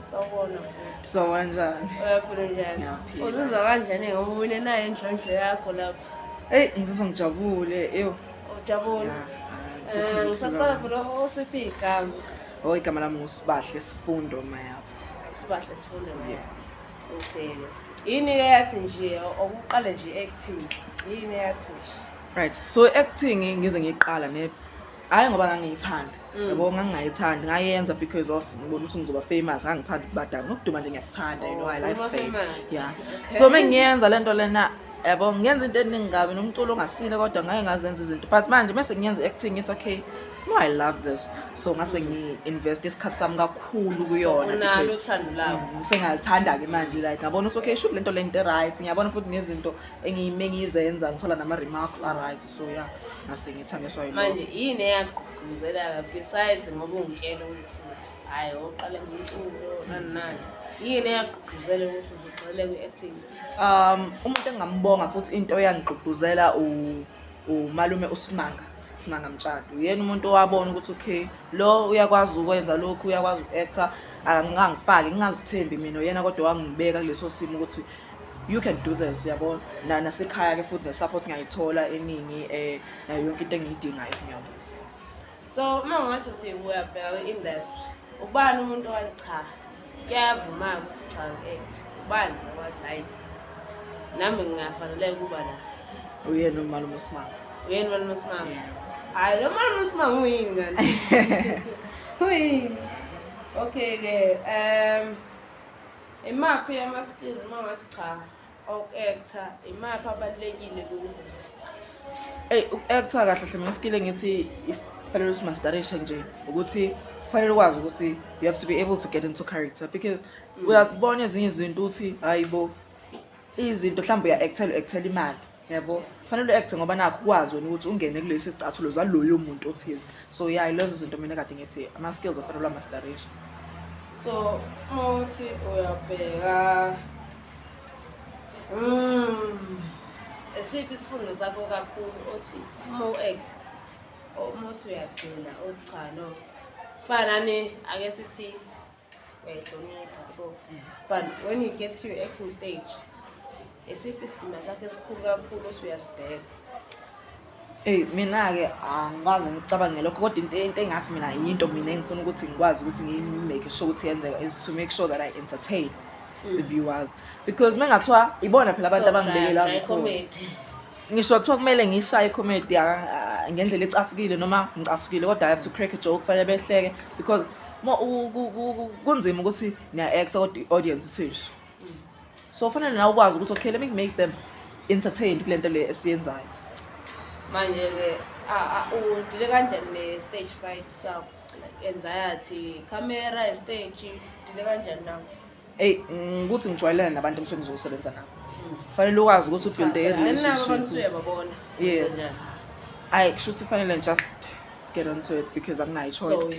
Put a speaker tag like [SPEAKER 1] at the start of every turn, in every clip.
[SPEAKER 1] Sawubona bhuti. Sawubona njani?
[SPEAKER 2] Uyaphila njani?
[SPEAKER 1] Ngiyaphila. Uzizwa kanjani ngomunye naye endlondlo yakho lapho? Eyi ngizizwa
[SPEAKER 2] ngijabule ewu. Ujabule.
[SPEAKER 1] Ya, Eh, ah, Ngisacela kukhulu. vele usiphi igama? Oh igama lami
[SPEAKER 2] ngusibahle sifundo mayabo. Sibahle sifunde
[SPEAKER 1] naye. Yeah. Okay. Yini ke yathi nje okuqale nje acting? Yini yathi nje? Right. So
[SPEAKER 2] acting ngize ngiqala ne hhayi ngoba ngangiyithanda mm. yabo ngangingayithandi ngayenza because of ngibona ukuthi ngizoba famous ngangithanda ukubadala nokuduma nje ngiyakuthanda you know i oh, like fame yeah so uma ngiyenza le nto lena yabo ngenza into eningi kabi nomculo ongasile kodwa ngaye ngazenza izinto but manje mese ngiyenza i-acting ngithi okay no i love this so ngase ngi-invest isikhathi sami kakhulu kuyonauthando
[SPEAKER 1] labo mm, sengalithanda-ke manje
[SPEAKER 2] like ngabona ukuthi okay shuthi le nto le nto e-right ngiyabona futhi nezinto engiyime ngizenza ngithola nama remarks are right so yeah ngase ngithangiswa yilo manje yini
[SPEAKER 1] eyagqugquzela lapha besides ngoba ungitshela ukuthi hayi oqala ngumculo nani nani yini eyagqugquzela ukuthi uzugxile kwi-acting um umuntu
[SPEAKER 2] engingambonga futhi into eyangigqugquzela umalume usimanga simanga mtshado uyena umuntu owabona ukuthi okay lo uyakwazi ukwenza lokhu uyakwazi uku-actor angangifaki ngingazithembi mina uyena kodwa wangibeka kuleso simo ukuthi you can do this yabo na nasekhaya ke futhi nesupport ngiyayithola eningi eh nayo yonke into engiyidingayo ngiyabo so
[SPEAKER 1] uma ngasho ukuthi uyabheka kwi-industry ubani umuntu owathi cha kuyavuma ukuthi cha ngi-act ubani owathi hayi nami ngingafaneleka ukuba la uyena umalume
[SPEAKER 2] usimanga uyena umalume usimanga
[SPEAKER 1] hayi lo malume usimanga uyini ngani uyini okay-ke um Imaphi ama-skills uma ngathi cha oku-actor imaphi abalulekile kubo eyi uku-actor
[SPEAKER 2] kahle hle mina iskill engithi kufanele ukuthi mastarishe nje ukuthi kufanele ukwazi ukuthi you have to be able to get into character because mm. uyakubona ezinye izinto ukuthi hayi bo izinto mhlawumbe uya-actela u-actela imali yabo kufanele u-acte ngoba nakho ukwazi wena ukuthi ungene kulesi sicathulo zaloyo muntu othize so ya lezo zinto mina kade ngithi ama-skills afanele amastarisha so
[SPEAKER 1] uma uthi uyabheka mm, esiphi isifundo sakho kakhulu othi uma u-act uma uthi uyagcina uthi cha no kufanani ake sithi uyayihlonipha yabo but when you get to your acting stage esiphi isidima sakho esikhulu kakhulu othi uyasibheka Ey
[SPEAKER 2] mina-ke angikaze ngicabange lokho kodwa into into engathi mina yinto mina engifuna ukuthi ngikwazi ukuthi ngi-make sure ukuthi yenzeka is to make sure that I entertain the mm. viewers because uma kungathiwa ibona phela abantu abangibekela Uzodlala, try comedy.
[SPEAKER 1] ngisho kuthiwa
[SPEAKER 2] kumele ngishaye icomedy ngendlela ecasukile noma ngicasukile kodwa i have to crack a joke kufanele behleke because kunzima ukuthi niya-acta kodwa i-audience ithisho so kufanele nawe ukwazi ukuthi okay let me make them entertained kule nto le esiyenzayo
[SPEAKER 1] manje-ke udile kanjani ne-stage fright sakho like anxiety camera estage udile kanjani nawo eyi ngikuthi
[SPEAKER 2] ngijwayelene nabantu emsweni zokusebenza nabo kufanele ukwazi ukuthi ubuilde irelationship ayi kusho ukuthi kufanele just get onto it because akunayo choiceuma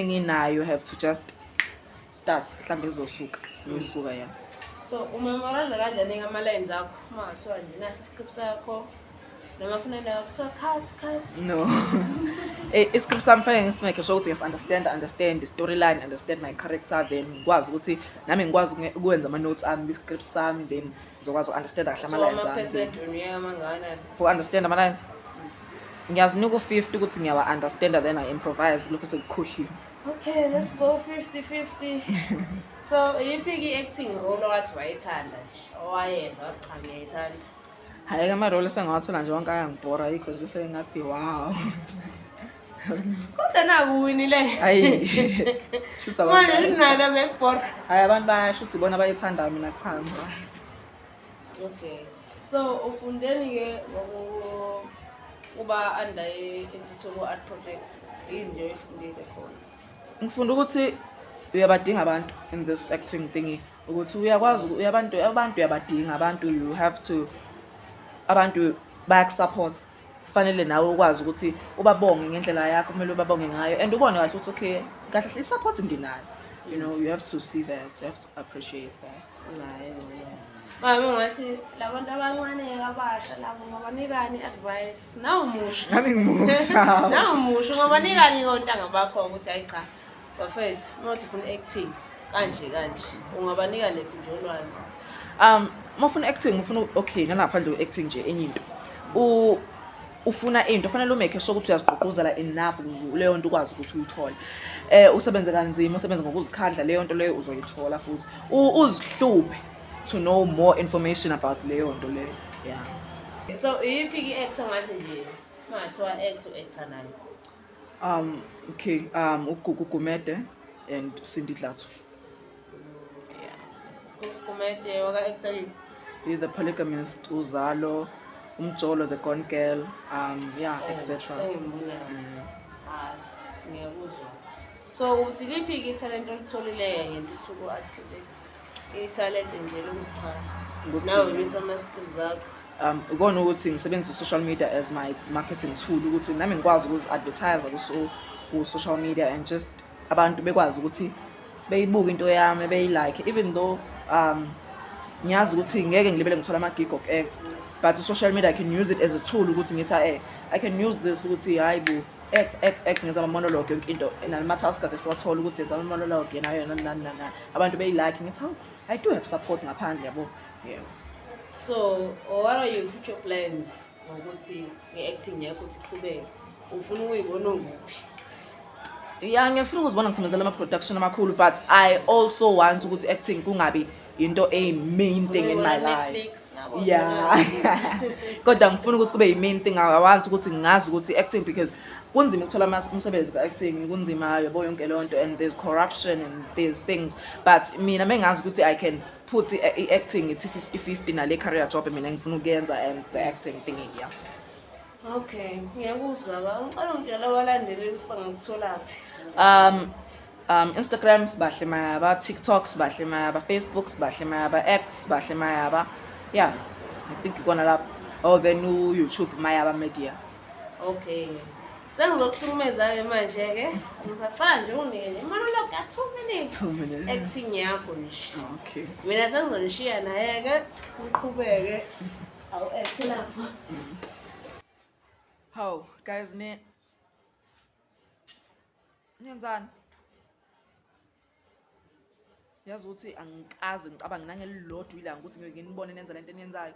[SPEAKER 1] nginayo have to
[SPEAKER 2] just start mhlawumbe izosuka ngisuka mm. ya so
[SPEAKER 1] umemorize kanjani-ke ama-lines akho uma ngathiwa nje nasi iscript sakho noma funa nayo kuthiwa cut cut no
[SPEAKER 2] eh, iscript sami fanele ngisimekhe sho ukuthi ngisunderstand understand storyline understand my character then ngikwazi ukuthi nami ngikwazi ukwenza ama-notes ami kwi-script sami then ngizokwazi uku-understand kahle ama-lines
[SPEAKER 1] for understand ama-lines
[SPEAKER 2] ngiyazinika u-fifty ukuthi ngiyawa-understanda then i improvise lokho sekukhohliwe okay let's
[SPEAKER 1] go fifty fifty so iyiphi-ke i-acting role owathi wayithanda nje owayenza wathi cha ngiyayithanda hhayi ke
[SPEAKER 2] amarole esengawathola nje wonke ayangibhora yikho nje sengathi wow kodwa
[SPEAKER 1] nakuwini le hayi
[SPEAKER 2] shuthi abantu manje nalo
[SPEAKER 1] bekubhora hayi abantu bayasho
[SPEAKER 2] ukuthi ibona abayithanda mina kuthanda
[SPEAKER 1] okay so ufundeni ke ngokuba under intuthuko art projects yini nje oyifundile khona ngifunda ukuthi
[SPEAKER 2] uyabadinga abantu in this acting thingy ukuthi uyakwazi abantu abantu uyabadinga abantu you have to abantu bayakusaphotha kufanele nawe ukwazi ukuthi ubabonge ngendlela yakho kumele ubabonge ngayo and ubone kahle ukuthi okay kahle hle i-support nginayo you know you have to see that you have to
[SPEAKER 1] appreciate
[SPEAKER 2] that nayo Mama
[SPEAKER 1] ngathi labantu abancane abasha labo ngobanikani advice nawu musha. Ngani ngimusha.
[SPEAKER 2] Nawu musha
[SPEAKER 1] ngobanikani kontanga bakho ukuthi ayi cha Bafethu, uma uthi ufuna acting kanje kanje, ungabanika lephi nje ulwazi? Um, uma
[SPEAKER 2] ufuna acting, ufuna okay, nalapha nje acting nje enye into. U ufuna into fanele umekhe sure ukuthi uyazigqugquzela enough ukuze leyo nto ukwazi ukuthi uyithole eh usebenze kanzima usebenze ngokuzikhandla leyo nto leyo uzoyithola futhi uzihluphe to know more information about leyo nto leyo yeah so iyiphi
[SPEAKER 1] ki-act ongathi nje mathiwa act u-actor nayo Um, okay,
[SPEAKER 2] um, uGugu Gumede and Cindy Dlatso.
[SPEAKER 1] Yeah. Gumede waka actually. The
[SPEAKER 2] polygamist Uzalo, Umjolo the gone girl, um, yeah, oh, etc.
[SPEAKER 1] Mm. Ah, so usiliphi ke ithalente olitholileyo ngentuthuko activate ithalente nje lomchana nawe bisa ama-skills akho um ikona ukuthi ngisebenzisa
[SPEAKER 2] i-social media as my marketing tool ukuthi nami ngikwazi ukuzi-advertise ku-social media and just abantu bekwazi ukuthi beyibuke into yami beyilike even though um ngiyazi ukuthi ngeke ngilibele ngithola ama-gig of act but social media i can use it as a tool ukuthi ngithi eh i can use this ukuthi hhayi bo act act act ngenza ama-monologue yonke into and ama-task kade siwathola ukuthi yenza ama-monologue yena yona nani nani abantu beyi-like ngithi hawu i do have support ngaphandle yabo yeah. so
[SPEAKER 1] what are your future plans ngokuthi nge-acting yakho ukuthi iqhubeke ufuna ukuyibona nguphi
[SPEAKER 2] ya ngiyafuna ukuzibona ngisebenzela ama-production amakhulu but i also want ukuthi acting kungabi into a main thing in my life yeah kodwa ngifuna ukuthi kube yi-main thing awanti ukuthi ngazi ukuthi acting because kunzima ukuthola umsebenzi ka-acting kunzima yabo yonke leyo nto and there's corruption and there's things but mina mengazi ukuthi i can put i-acting ithi 50 50 nale career job mina ngifuna ukuyenza and the acting thing yeah
[SPEAKER 1] Okay, ngiyakuzwa ba. Ngicela ungitshela abalandeli ukuba ngikutholaphi. Um um
[SPEAKER 2] Instagram sibahle mayaba, TikTok sibahle mayaba, Facebook sibahle mayaba, X sibahle mayaba. Yeah. I think ikona lapho. Oh then YouTube mayaba media. Okay.
[SPEAKER 1] sengizokuhlukumeza-ke manje-ke ngisacala nje unike nje monolog ya two minutes acting yakho nje okay mina
[SPEAKER 2] sengizonishiya
[SPEAKER 1] naye-ke ngiqhubeke awuekthe
[SPEAKER 2] lapho hawu guys ne ngenzani yazi ukuthi angikazi ngicabange nangelilodwa ilanga ukuthi ngeke nibone nenza lento eniyenzayo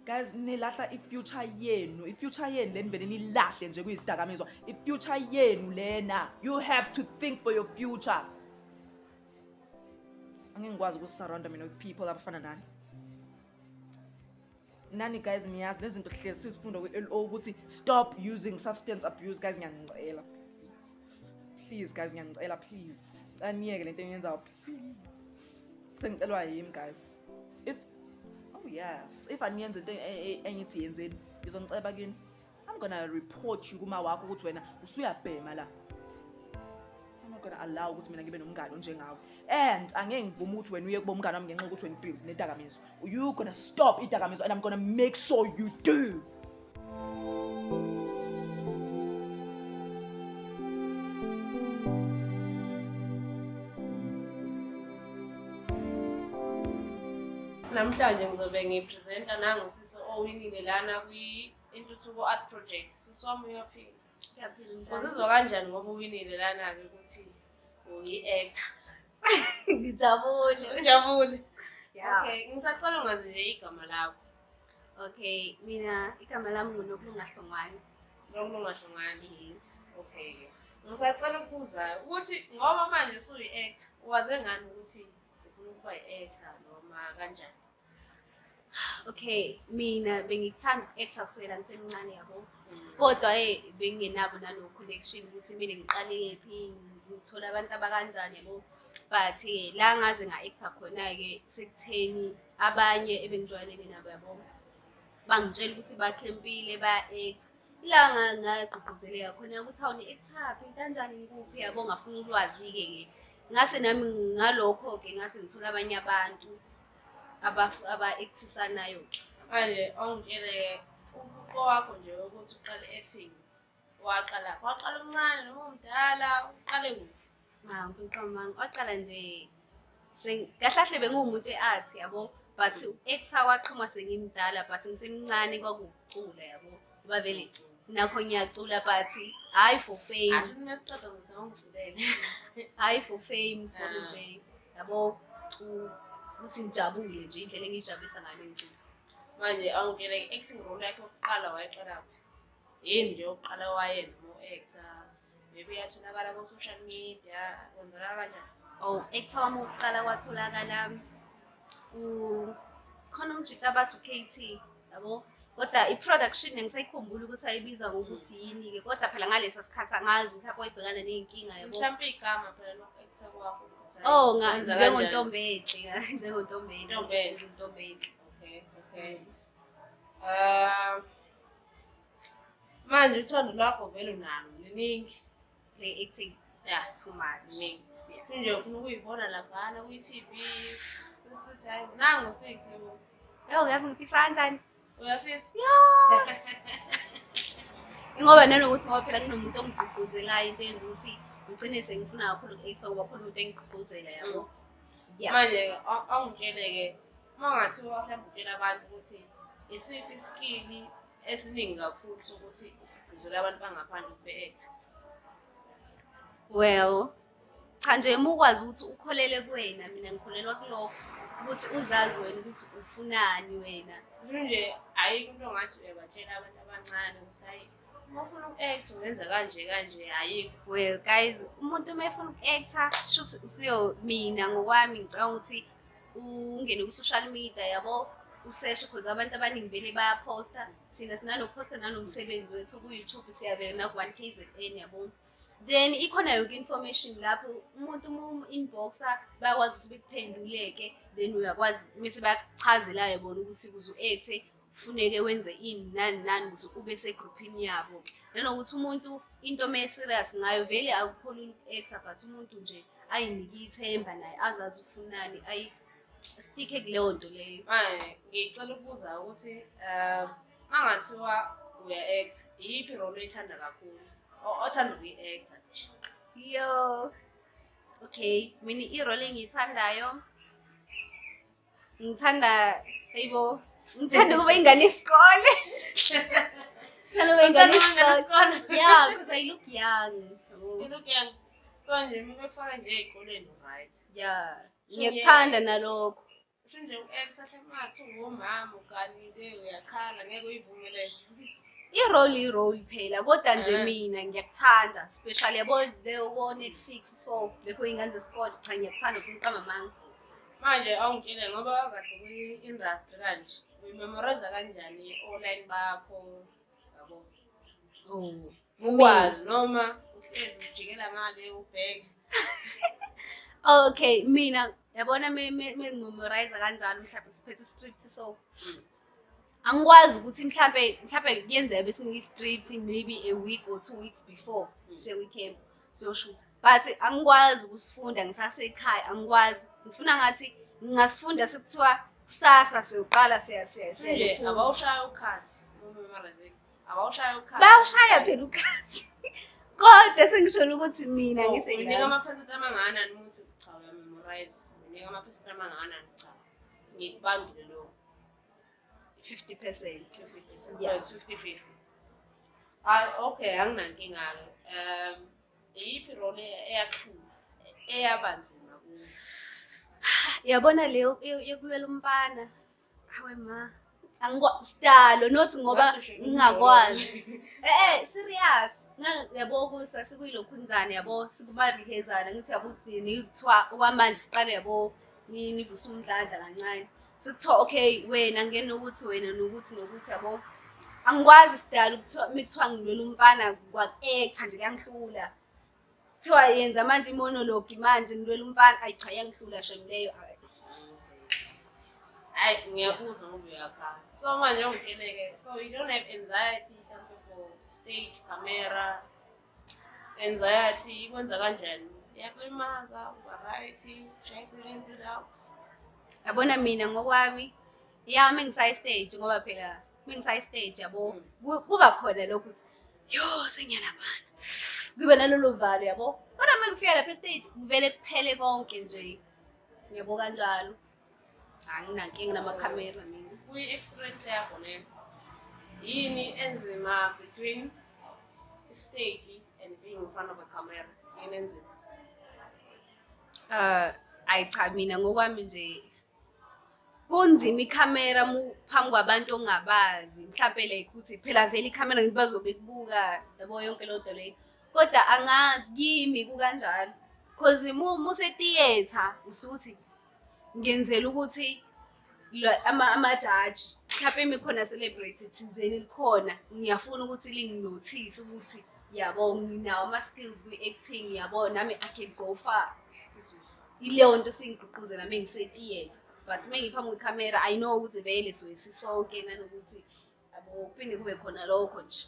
[SPEAKER 2] guys nilahla i-future yenu i-future yenu leni vele nilahle nje kuyizidakamizwa i-future yenu lena you have to think for your future angeke ngikwazi ukusurrounda mina with people abafana nani nani guys niyazi lezi zinto hlezi sizifunda kwi-l o ukuthi stop using substance abuse guys ngiyanicela please guys ngiyanicela please caniyeke le nto eniyenzayo please sengicelwa yimi guys if oh yes if aniyenze into e, e, engithi yenzeni ngizonixeba kini I'm gonna report you kuma wakho ukuthi wena usuyabhema la. I'm not gonna allow ukuthi mina ngibe nomngane onjengawe. And angeke ngivume ukuthi wena uye kubo umngane wami ngenxa ukuthi wena ubuse nedakamizwa. You gonna stop idakamizwa and I'm gonna make sure you do.
[SPEAKER 1] Namhlanje ngizobe ngipresenta nangu sisi owinile lana kwi Intuthuko Art Project sisi wami uyaphila. Ngiyaphila njalo.
[SPEAKER 3] Uzizwa kanjani ngoba
[SPEAKER 1] uwinile lana-ke ukuthi uyi-actor?
[SPEAKER 3] Ngijabule. Ujabule?
[SPEAKER 1] Yeah. Okay,
[SPEAKER 3] ngisacela ungazi
[SPEAKER 1] nje igama lakho. Okay,
[SPEAKER 3] mina igama lami nguNokulunga Hlongwane. Nokulunga
[SPEAKER 1] Hlongwane. Yes. Okay. Ngisacela ukubuza ukuthi ngoba manje usuyi-actor, waze ngani ukuthi ufuna ukuba yi-actor noma kanjani?
[SPEAKER 3] okay mina bengikuthanda uku-actor kusukela ngisemncane yabo kodwa e bengingenabo nalo connection ukuthi kumele ngiqale kephi ngithole abantu abakanjani yabo but eh, la ngaze nga-actor khona-ke sekutheni abanye ebengijwayelene nabo yabo bangitshela ukuthi bakhempile baya-actor ila ngagqugquzeleka khona ukuthi awu ni-actaphi kanjani ngikuphi yabo ngafuna ulwazi-ke ke ngase nami ngalokho-ke ngase ngithola abanye abantu aba-actisanayo manje
[SPEAKER 1] awungitshele umfuqo wakho nje ukuthi uqale ethini waqala waqala umncane noma umdala uqale kuphi hawu
[SPEAKER 3] umfuqo
[SPEAKER 1] wami waqala
[SPEAKER 3] nje kahlahle benguwumuntu e-art yabo but uku-actor waqhuma sengimdala but ngisemncane kwakuwucula yabo Babeli nakho ngiyacula but hayi for fame Asho masiqeda ngizongiculela. hayi for fame for Ah. nje yabo u- ukuthi ngijabule nje indlela engiyijabulisa ngayo mengicula Manje
[SPEAKER 1] awungene acting role yakhe yokuqala wayeqala. Yini nje yokuqala wayenza mo actor. maybe uyatholakala ko-social media kwenzeka kanjani oh ekuthiwa wami
[SPEAKER 3] ukuqala kwatholakala khona umjita abathi u-kt yabo kodwa i-production ngisayikhumbula ukuthi ayibiza ngokuthi yini-ke kodwa phela ngalesa sikhathi angazi mhlawumbe wayibhekana ney'nkinga yabo mhlawumpe igama phela
[SPEAKER 1] lokhu-ekutha kwakho oh njengontombi enhle
[SPEAKER 3] njengontombi enhle ntombi enhle okay
[SPEAKER 1] okay um manje uthando lwakho vele unalo liningi le-acting
[SPEAKER 3] ya too
[SPEAKER 1] much
[SPEAKER 3] nje
[SPEAKER 1] ufuna ukuyibona laphana kwi-tv sisithi hayi nango sisi ewu yazi ngifisa
[SPEAKER 3] kanjani uyafisa ingoba nanokuthi ngoba phela kunomuntu ongigqugquzelayo into yenza ukuthi ngigcine sengifuna kakhulu uku-acta ngoba khona umuntu engigqugquzela yabo mm. manje
[SPEAKER 1] awungitshele-ke uma ngathiwa mhlawumbe utshela abantu ukuthi isiphi isikili esiningi kakhulu sokuthi ugqugquzela abantu bangaphandle ukuthi be-act
[SPEAKER 3] well cha nje uma ukwazi ukuthi ukholele kuwena mina ngikholelwa kulokho ukuthi uzazi wena ukuthi ufunani wena nje
[SPEAKER 1] ayikho into ngathi uyabatshela abantu abancane ukuthi hayi uma ufuna uku-act ungenza kanje kanje ayikho well guys
[SPEAKER 3] umuntu uma efuna uku-acta shuthi usuyo mina ngokwami ngicabanga ukuthi ungene ku-social media yabo useshe because abantu abaningi vele bayaphosta thina sinanokuphosta nanomsebenzi wethu ku-youtube siyabeka naku-one k z n yabo then ikhona yonke information lapho umuntu uma um-inboxa bayakwazi ukuthi bekuphenduleke then uyakwazi mese bakuchazelayo bona ukuthi kuze u-acte kufuneke wenze ini nani nani ukuze ube segruphini yabo-ke nanokuthi umuntu into uma e-serious ngayo vele akukhona i-actor but umuntu nje ayinike ithemba naye azazi ufunani ayistike kuleyo nto leyo manje ngicela
[SPEAKER 1] ukubuza ukuthi um uma ngathiwa uya-acta iyiphi role oyithanda kakhulu othanda ukuyi-acta yo
[SPEAKER 3] okay mina irole engiyithandayo ngithanda ayibo ngithanda ukuba ingane yesikole ngithanda ukuba ingane yesikole ya because i look young you look young so nje
[SPEAKER 1] uma bekufaka nje ey'koleni right ya
[SPEAKER 3] ngiyakuthanda nalokho usho nje u-act
[SPEAKER 1] ahlemathi ungumama uganile uyakhala ngeke uyivumelele i-role
[SPEAKER 3] i-role phela kodwa nje eh. mina ngiyakuthanda special yabo leyo ko-netflix so lekho iy'ngane zesikole cha ngiyakuthanda kumqamba amanga manje
[SPEAKER 1] awungitshele ngoba wakade kwi-industry kanje uyimemoriza kanjani online bakho yabo ukwazi noma uhlezi ujikela ngale ubheke okay
[SPEAKER 3] mina yabona mengimemoriza kanjalo mhlawumbe siphethe istrict so mm. angikwazi ukuthi mhlampe mhlampe kuyenzeka besinika i-street maybe a week or two weeks before mm. sewe-camp siyoshutha but angikwazi ukusifunda ngisasekhaya angikwazi ngifuna ngathi ngingasifunda sekuthiwa kusasa siyoqala siyabawushaya ukhathi
[SPEAKER 1] abawushaya ukhathi bayawushaya phela ukhathi
[SPEAKER 3] kodwa sengisholo ukuthi mina ngisenika amaphesenti
[SPEAKER 1] amangana nimuthi cha uyamemorize unika amaphesenti amangana cha ngikubambile lokho 50 percent so it's 50 50 hayi okay anginankinga ke um iyiphi role eyathula eyabanzima kuyo
[SPEAKER 3] yabona leyo yokulwela umfana hawe ma angikwasidalo not ngoba ngingakwazi eh eh serious yabo kusa sikuyilokhunzane yabo sikumarihezana ngithi yabo kugcini yizithiwa okwamanje siqale yabo nivuse umdlandla kancane sekuthiwa okay wena ngena ukuthi wena nokuthi nokuthi yabo angikwazi sidala ukuthiwa mikuthiwa ngilwela umfana kwakecha nje kuyangihlula kuthiwa yenza manje imonologue manje ngilwela umfana ayi cha yangihlula shem leyo hayi
[SPEAKER 1] ngiyakuzwa ngoba uyakhala so manje ungitheleke so you don't have anxiety mhlawumbe for stage camera Anxiety ikwenza kanjani? Iyakulimaza, uba right, ushaye ipilo into out. Yabona
[SPEAKER 3] mina ngokwami yami ngisayi stage ngoba phela mengisayi stage yabo ku- kuba khona lokhu ukuthi yo sengiyalaphana kube nalolu valo yabo kodwa uma ngifika lapha estage kuvele kuphele konke nje yabo kanjalo anginankinga namakhamera mina kuyi-experience yakho
[SPEAKER 1] leyo yini enzima between istage and being in front of a camera yini enzima uh
[SPEAKER 3] ayi cha mina ngokwami nje kunzima ikhamera phambi kwabantu ongabazi mhlawumpe like ukuthi phela vele ikhamera ngithi bazobe kubuka yabo yonke loo nto leyo kodwa angazi kimi kukanjalo cause musetiyetha usuthi ngenzela ukuthi amajaji mhlawumpe imi khona celebrate thizeni likhona ngiyafuna ukuthi linginothise ukuthi yabo nginawo ama-skills kwi-acting yabo nami i can go far ileyo nto singigqugquzela uma ngisetiyetha but uma ngiphambi kwekhamera i know ukuthi vele soyisi sonke nanokuthi Akuphinde kube khona lokho nje.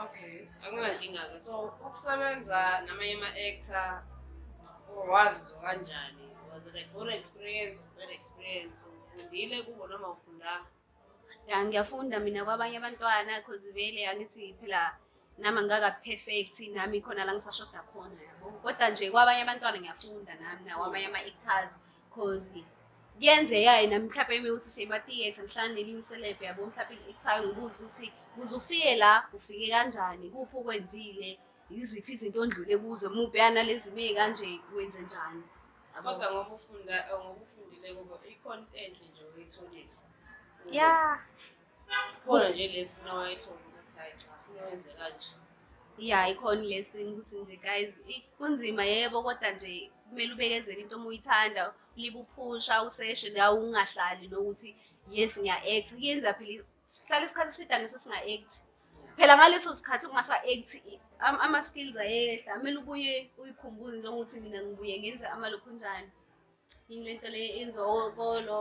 [SPEAKER 3] Okay,
[SPEAKER 1] anginankinga-ke. So ukusebenza namanye ama-actor wazi kanjani? Was it a good experience or bad experience? Ufundile kubo noma ufundanga? Ya
[SPEAKER 3] ngiyafunda mina kwabanye abantwana cause vele angithi phela nami angikaka perfect nami khona la ngisashoda khona yabo kodwa nje kwabanye abantwana ngiyafunda nami nakwabanye ama-actors cause kuyenzeka-ke nami mhlawumbe uma ukuthi seyima-theatre mhlawumbe nelinye iselebhe yabo mhlawumbe i-actor ngibuze ukuthi kuze ufike la ufike kanjani kuphi okwenzile yiziphi izinto ondlule kuzo muphi yanalezi ime kanje wenze njani kodwa ngoba
[SPEAKER 1] ufunda ngoba ufundile kubo ikhona into enhle nje oyitholile ya khona nje lesi nawayethonga
[SPEAKER 3] ukuthi hayi cha funa wenze kanje ya ikhona lesi ukuthi nje guys i- kunzima yebo kodwa nje kumele ubekezele into uma uyithanda ulibe uphusha useshe nawe ungahlali nokuthi yes ngiya-act kuyenza phela sihlale isikhathi eside angithi singa-act phela ngaleso sikhathi ungasa-act i- am- ama-skills ayehla kumele ubuye uyikhumbuze njengokuthi mina ngibuye ngenze amalokhunjani yini le nto le enziwa okolo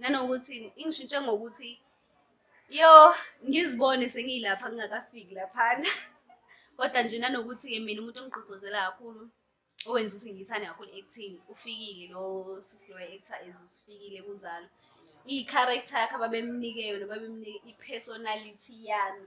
[SPEAKER 3] nanokuthi ingishintshe ngokuthi yo ngizibone sengiyilapha ngingakafiki laphana kodwa nje nanokuthi-ke mina umuntu ongigqugquzela kakhulu owenza ukuthi ngiyithande kakhulu i-acting ufikile lo sisi lo actor is ufikile kunjalo i-character yakhe ababemnike yona babemnike i-personality yami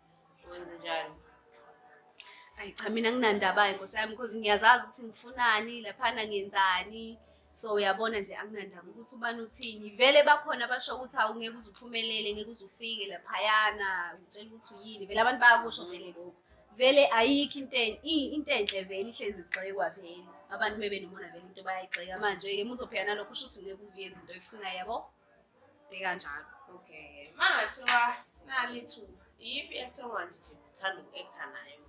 [SPEAKER 1] Wenze njani?
[SPEAKER 3] Ayi cha mina nginandabayo nkosi yami because ngiyazazi ukuthi ngifunani laphana ngenzani so uyabona nje anginandaba ukuthi ubani uthini vele bakhona abasho ukuthi awu ngeke uze uphumelele ngeke uze ufike laphayana utshela ukuthi uyini vele abantu bayakusho vele lokho vele ayikho into into enhle vele ihlezi igxekwa vele abantu mebenomona vele into bayayigxeka manje-ke muzophika nalokho usho ukuthi ngeke uze uyenza into oyifunayo yabo Ikanjalo. Okay.
[SPEAKER 1] Mangathiwa nalithuba iyiphi i-actor ongathi nje uthanda uku-actor nayo?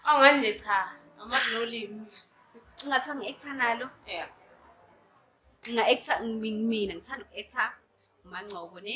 [SPEAKER 1] Awungani nje cha, amazi nolimi. Ungathiwa
[SPEAKER 3] ngi-actor nalo? Yeah. Nginga-actor mina ngithanda uku-actor uMangcobo ne?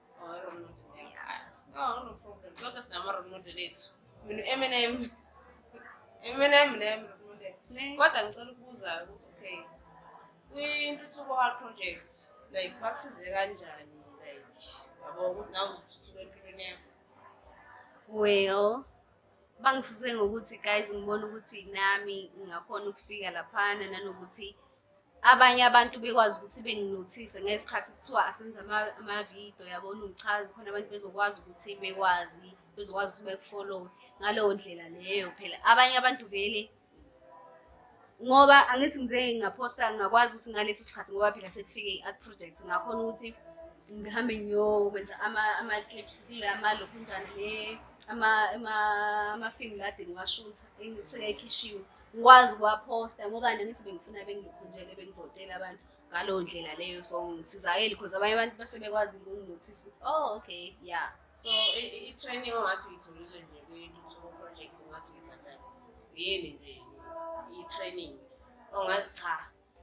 [SPEAKER 1] kodwa ngicela ukubuza ukuthi okay kwintuthuko hard project like bakusize kanjani like yabo ukuthi nawe uzothuthuka empilweni yakho
[SPEAKER 3] well bangisize ngokuthi guys ngibona ukuthi nami ngingakhona ukufika laphana nanokuthi abanye abantu bekwazi ukuthi benginothise ngesikhathi kuthiwa asenze amavidiyo yabona uchazi khona abantu bezokwazi ukuthi bekwazi bezokwazi ukuthi bekufolowe ngaleyo ndlela leyo phela abanye abantu vele ngoba angithi ngize ngaphosta ngingakwazi ukuthi ngaleso sikhathi ngoba phela sekufike i-art project ngakhona ukuthi ngihambe ngiyokwenza ama-clips kule amalokhunjani le ama-film lade ngiwashutha sengayikhishiwe ngikwazi ukuwaphosta ngoba nangithi bengifuna bengikhunjele bengivotele abantu ngaleyo ndlela leyo so ngisizakele because abanye abantu base bekwazi ukunginothisa ukuthi oh okay yeah so
[SPEAKER 1] i-training ongathi uyitholile nje kwi-two projects ongathi uyithatha yini nje i-training ongathi cha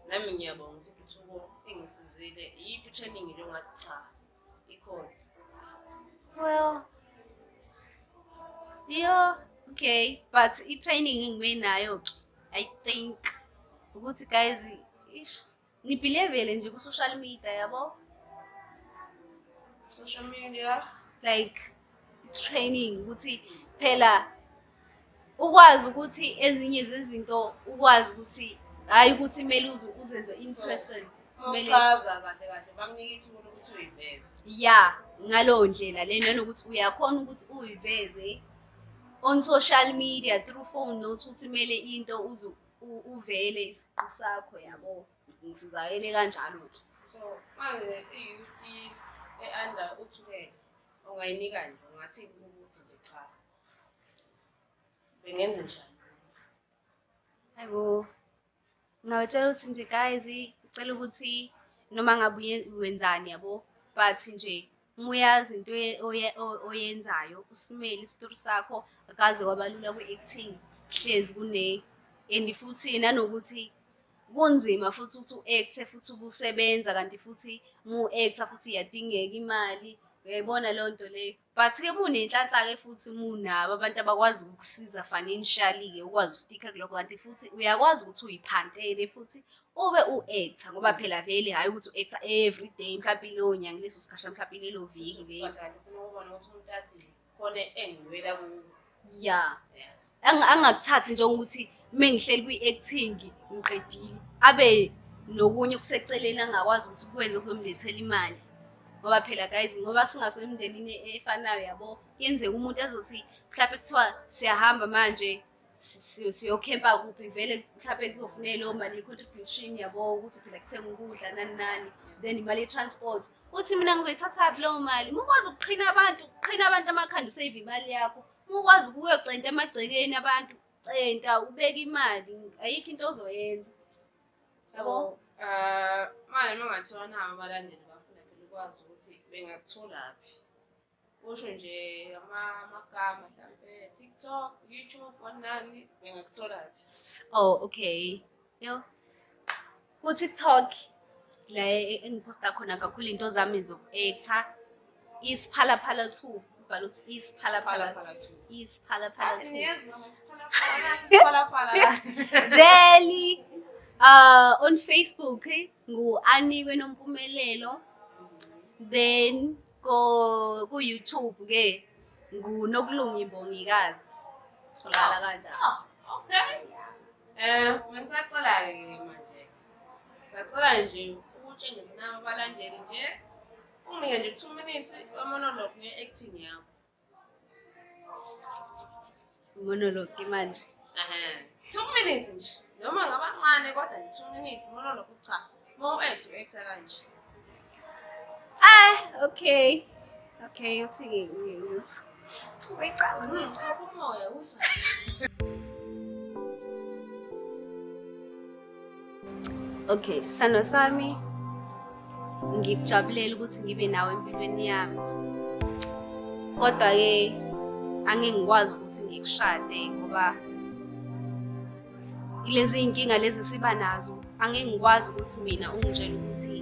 [SPEAKER 1] nami ngiyabonga ukuthi ithuko engisizile iyiphi i-training nje ongathi cha Ikhona.
[SPEAKER 3] Well, yo, okay, but i-training engibe nayo-ke, I think, ukuthi guys, ish, ngibhilevele nje ku-social media, yabo?
[SPEAKER 1] Social media? Like,
[SPEAKER 3] training, ukuthi phela ukwazi ukuthi ezinye zezinto ukwazi ukuthi hhayi ukuthi kumele uze uzenze in person kumele Uchaza
[SPEAKER 1] kahle kahle bakunike ithuba lokuthi uyiveze. ya
[SPEAKER 3] ngaleyo ndlela le nanokuthi uyakhona ukuthi uyiveze on social media through phone not ukuthi kumele into uze u- uvele isiqu sakho yabo ngisizakele kanjalo-ke So
[SPEAKER 1] manje i-youth e-under uthukela ungayinikani ungathi ukuthi nje cha. bengenze njani hayibo
[SPEAKER 3] ngingawetshela ukuthi nje guys ngicela ukuthi noma ngabe uye- wenzani yabo but nje uma uyazi into oye- oye- o- oyenzayo usimele isitori sakho akaze kwabalula kwi-acting hlezi kune and futhi nanokuthi kunzima futhi ukuthi u-acte futhi ubusebenza kanti futhi uma u-acta futhi iyadingeka imali uyayibona leyo nto leyo but ke munenhlanhla-ke futhi munabo abantu abakwazi ukukusiza financially-ke ukwazi ustikha kulokho kanti futhi uyakwazi ukuthi uyiphantele futhi ube u-actor ngoba phela vele hhayi ukuthi u-actor every day mhlawumpe ileyo nyanga leso sikhasha mhlawumpe ilelo viki lelo
[SPEAKER 1] khona engiwela kuwo ya
[SPEAKER 3] Ang- angakuthathi njengokuthi uma ngihleli kwi-acting ngiqedile abe nokunye okuseceleni angakwazi ukuthi kwenze kuzomlethela imali ngoba phela guys ngoba singaso emndenini efanayo yabo kuyenzeka umuntu azothi mhlawumbe kuthiwa siyahamba manje si- si- siyokhempa kuphi vele mhlawumbe kuzofuneka leyo mali ye-contribution yabo ukuthi phela kuthenga ukudla nani nani then imali ye-transport uthi mina ngizoyithathaphi leyo mali uma ukwazi ukuqhina abantu ukuqhina abantu amakhanda usave imali yakho Uma ukwazi ukuyocenta emagcekeni abantu centa ubeke imali ayikho into ozoyenza yabo um
[SPEAKER 1] manje uma ngathiwa nawo abalandeli bafuna phela ukwazi ukuthi bengakutholaphi kusho nje amakama mhlampe tiktok youtube onani bengakutholaphi oh okay
[SPEAKER 3] Yo. Ku-TikTok la engiphosta khona kakhulu into zami zoku-ektha isiphalaphala two ubhala ukuthi isiphalaphala
[SPEAKER 1] two isiphalaphala two veli
[SPEAKER 3] uh, on facebook ngu-anikwe nompumelelo then Ko ku YouTube ke nguNokulunga Imbongikazi. Tholakala kanjani? Oh,
[SPEAKER 1] okay. Eh, ngisacela ke manje. Ngicela nje ukutshengisa abalandeli nje unginike nje 2 minutes wemonologue nge-acting yakho
[SPEAKER 3] monologue manje two
[SPEAKER 1] minutes nje noma ngabancane kodwa nje two minutes monologue cha uma u-act u-acta kanje ah
[SPEAKER 3] okay okay uthi ngithi uyicala hmm, umoya
[SPEAKER 1] usa
[SPEAKER 3] Okay, sano sami ngikujabulela ukuthi ngibe nawe empilweni yami. Kodwa ke angeke ngikwazi ukuthi ngikushade ngoba ilezi inkinga lezi siba nazo angeke ngikwazi ukuthi mina ungitshela ukuthi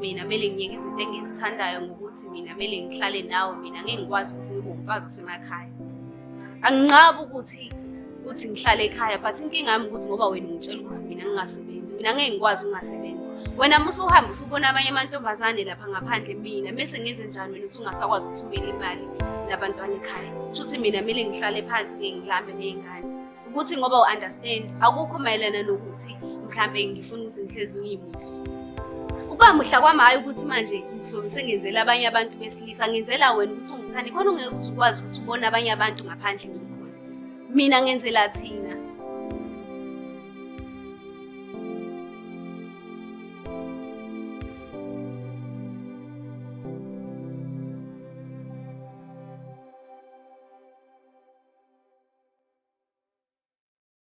[SPEAKER 3] mina kumele ngiyeke izinto engizithandayo ngokuthi mina kumele ngihlale nawe mina ngeke ngikwazi ukuthi ngibe umfazi osemakhaya anginqabi ukuthi ukuthi ngihlale ekhaya but inkinga yami ukuthi ngoba wena ungitshela ukuthi mina ngingasebenzi mina ngeke ngikwazi ukungasebenzi wena musa uhambe usubona amanye amantombazane lapha ngaphandle mina mese ngenze njani wena usungasakwazi ukuthumela imali nabantwana ekhaya kusho ukuthi mina kumele ngihlale phansi ngeke ngilambe ney'ngane ukuthi ngoba u-understand akukho mayelana nokuthi mhlawumbe ngifuna ukuthi ngihlezi ngiyimuhle ukuba muhla kwami hhayi ukuthi manje ngizobe sengenzela abanye abantu besilisa ngenzela wena ukuthi ungithande khona ungeke uzukwazi ukuthi ubone abanye abantu ngaphandle mina Mina ngenzela thina.